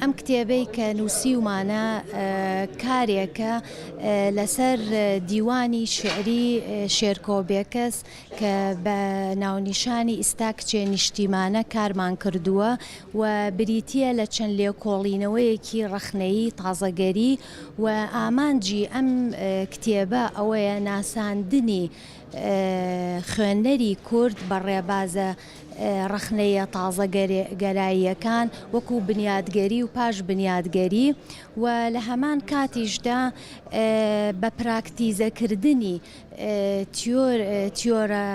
ئەم کتێبەی کە نووسیومانە کارێکە لەسەر دیوانی شعری شێرکۆ بێکەس کە بە ناونیشانی ئیستا کچێ نیشتیمانە کارمان کردووە و بریتە لە چەند لێکۆڵینەوەیەکی ڕخنەیی تازەگەری و ئامانجی ئەم کتێبە ئەوەیە ناساندنی خوێنەری کورد بە ڕێبازە ڕەخنەیە تازەگەراییەکان وەکوو بنیادگەری و پاش بنیادگەری و لە هەمان کاتیشدا بە پراکتیزەکردنی تیۆرە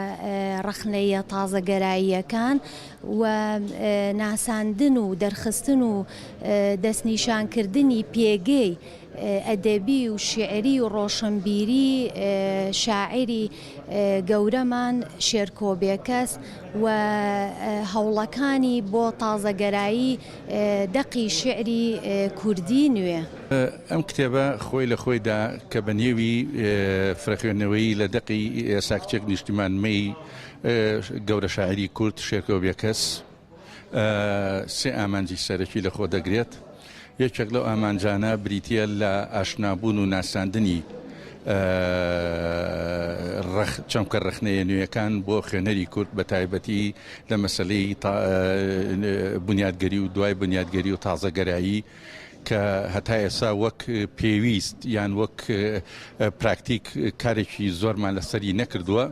ڕەخنەیە تازەگەراییەکان و ناساندن و دەرخستن و دەستنیشانکردنی پێگەی ئەدەبی و شیعری و ڕۆشنبیری شاعری گەورەمان شێرکۆ بێکەس و هەوڵەکانی بۆ تازەگەرایی دەقی شیعری کوردی نوێ. ئەم کتێبە خۆی لە خۆیدا کە بە نێوی فرەخوێندنەوەیی لە دەقی ساکچێک نیشتیمان مەی گەورە شاعیری کورد شێرکۆ بێکەس، سێ ئامانجی سەرەکی لەخۆ دەگرێت، یەکێک لەو ئامانجانە بریتییە لە ئاشنابوون و ناساندنی چەمکە ڕەخنەیە نوێیەکان بۆ خوێنەری کورد بە تایبەتی لە مەسلەی بنیادگەری و دوای بنیادگەری و تازەگەرایی کە هەتا ئێسا وەک پێویست یان وەک پراکتیک کارێکی زۆرمان لەسەری نەکردووە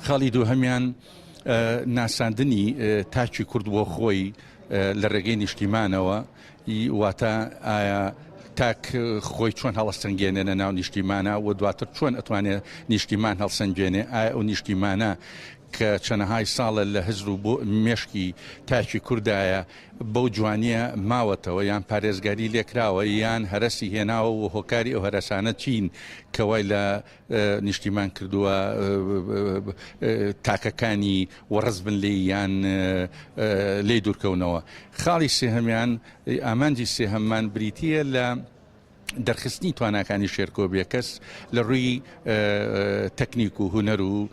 خاڵی دوو هەمان ناساندنی تاکی کورد بۆ خۆی لە ڕێگەی نیشتیمانەوە واتە ئایا تاک خۆی چۆن هەڵسەنگێنێ لە ناو نیشتیمانە و دواتر چۆن ئەتوانێت نیشتیمان هەڵسەنگێنێ ئایا ئەو نیشتیمانە کە چەنەهای ساڵە لە هزر و بۆ مێشکی تاکی کوردایە بەو جوانیە ماوەتەوە یان پارێزگاری لێکراوە یان هەرسی هێناوە و هۆکاری ئەو هەرسانە چین کەوای لە نیشتیمان کردووە تاکەکانی وەڕس بن لێی یان لێی دوورکەونەوە خاڵی سێهەمیان ئامانجی سێهەممان بریتە لە دەرخستنی تواناکانی شێرکۆ بێکەس لە ڕووی تەکنیک و هوەر و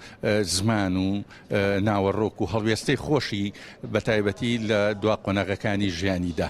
زمان و ناوەڕۆک و هەڵوێستەی خۆشی بە تایبەتی لە دوا قۆناغەکانی ژیانیدا.